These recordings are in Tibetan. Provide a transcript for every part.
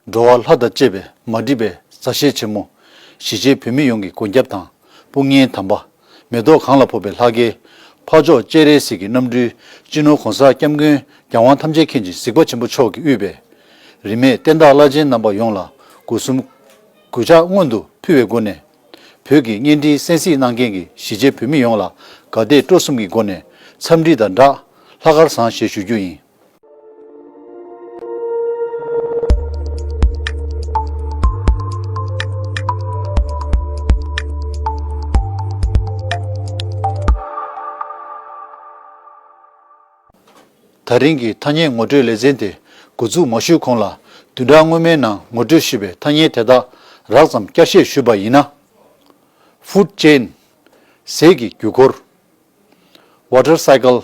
འགྲོ་བ་ལྷ་དང་བཅས་པའི་མ་འདྲིས་པའི་མཛའ་བཤེས་ཆེན་མོ། གཞིས་བྱེས་བོད་མི་ཡོངས་ཀྱི་མགོན་སྐྱབས་དང་དཔུང་གཉེན་དམ་པ། མེ་ཏོག་གངས་ལ་ཕོབ་པའི་ལྷ་སྐལ། འཕགས་མཆོག་སྤྱན་རས་གཟིགས་ཀྱི་རྣམ་སྤྲུལ། སྤྱི་ནོར་གོང་ས་སྐྱབས་མགོན་རྒྱལ་དབང་ཐམས་ཅད་མཁྱེན་ཅིང་གཟིགས་པ་ཆེན་པོ་མཆོག་གིས་དབུས་པའི། རིས་མེད་བསྟན་བདག་བླ་ཆེན་རྣམ་པ་ཡོངས་ལ་གུས་གསུམ། གུས་ཕྱག་སྔོན་དུ་ཕུལ་བའི་སྒོ་ནས། བོད་ཀྱི་གཉེན་སྒྲིག་གསན་གཟིགས་གནང་མཁན་གྱི་གཞིས་བྱེས་བོད་མི་ཡོངས་ལ་དགའ་དད་སྤྲོ་གསུམ་གྱི་སྒོ་ནས་འཚམས་འདྲི་དང་སྦྲགས་ལྷ་སྐལ་བཟང་བཞེས་ཞུ་རྒྱུ་ཡིན། ད་རིང་གི་ཐ་སྙད་ངོ་སྤྲོད་ལེ་ཚན་དེ་འགོ་འཛུགས་མ་ཞུས་གོང་ལ་བདུན་ཕྲག་སྔོན་མའི་ནང་ངོ་སྤྲོད་ཞུས་པའི་ཐ་སྙད་དེ་དག་རགས་ཙམ་བསྐྱར་བཤད་ཞུས་པ་ཡིན་ན། Food Chain། ཟས་ཀྱི་རྒྱུད་འཁོར། Water Cycle།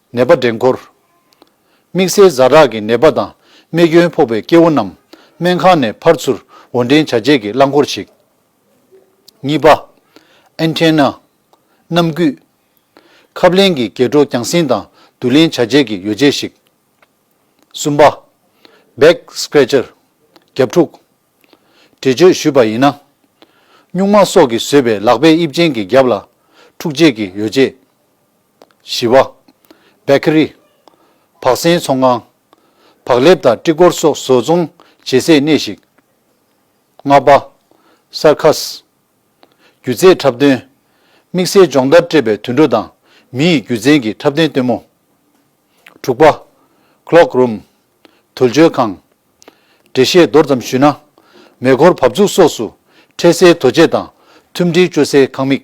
ནད་པ་འདྲེན་འཁོར། དམིགས་བསལ་བཟའ་རག་གི་ནད་པ་དང་རྨས་སྐྱོན་ཕོག་པའི་སྐྱེ་བོ་རྣམས་སྨན་ཁང་ནས་ཕར་ཚུར་འོར་འདྲེན་བྱ་སྤྱད་ཀྱི་རླངས་འཁོར་ཞིག། གཉིས་པ། Antenna། གནམ་སྐུད། ཁབ་ལེན་གྱི་འགྱེད་འཕྲོ་རྒྱང་སྲིང་དང་བསྡུ་ལེན་བྱ་སྤྱད་ཀྱི་ཡོ་བྱད་ཞིག། གསུམ་པ། Back Scratcher། རྒྱབ་འཁྲུག། འདྲི་གཅོད་ཞུས་པ་ཡིན་ན། སྨྱུག་མ་སོགས་ཀྱིས་བཟོས་པའི་ལག་པའི་དབྱིབས་ཅན་གྱི་རྒྱབ་ལ་འཁྲུག་སྤྱད་ཀྱི་ཡོ་བྱད། བཞི་བ། Bakery། བག་ཟན་ཚོང་ཁང། བག་ལེབ་དང་སྤྲི་གོར་སོགས་བཟོ་ཚོང་བྱེད་སའི་གནས་ཤིག། ལྔ་པ། Circus། སྒྱུ་རྩལ་འཁྲབ་སྟོན། དམིགས་བསལ་སྦྱོང་བརྡར་སྤྲད་པའི་དུད་འགྲོ་དང་མི་ཡི་རྒྱུ་མཚན་གྱི་འཁྲབ་སྟོན་སྟོན་མོ། དྲུག་པ། Cloak Room། དུར་འཇོལ་ཁང། འགྲེལ་བཤད་མདོར་ཙམ་ཞུས་ན། མེ་འཁོར་བབས་ཚུགས་སོགས་སུ་འཕྲད་སའི་དོ་ཆས་དང་ཐུམ་སྒྲིལ་སྤྱོད་སའི་ཁང་མིག།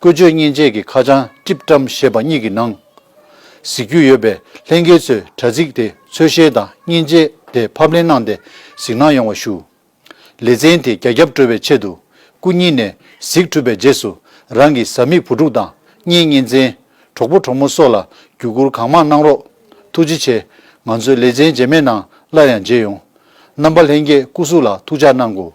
བཀོལ་སྤྱོད་མཉེན་ཆས་ཀྱི་ཁ་བྱང་ཀྲིབ་ཀྲམ་ཞེས་པ་གཉིས་ཀྱི་ནང་གཟིགས་རྒྱུ་ཡོད་པས་ལྷན་རྒྱས་ཚོས་དྲ་ཚིགས་དེ་འཚོལ་བཤེར་དང་མཉེན་ཆས་དེ་ཕབ་ལེན་གནང་སྟེ་གཟིགས་གནང་ཡོང་བ་ཞུ། ལེ་ཚན་དེ་རྒྱ་ཁྱབ་འགྲོ་བའི་ཆེད་དུ་སྐུ་ཉིད་ནས་གཟིགས་གྲུབ་པའི་རྗེས་སུ་རང་གི་བཟའ་མི་བུ་ཕྲུག་དང་གཉེན་ཉེ་མཚན་གྲོགས་པོ་གྲོགས་མོ་སོགས་ལ་བརྒྱུད་བསྐུར་གང་མང་གནང་རོགས། ཐུགས་རྗེ་ཆེ། ང་ཚོས་ལེ་ཚན་རྗེས་མེད་ནང་སླར་ཡང་མཇལ་ཡོང། རྣམ་པ་ལྷན་རྒྱས་སྐུ་གཟུགས་ལ་ཐུགས་ཅག་གནང་དགོས།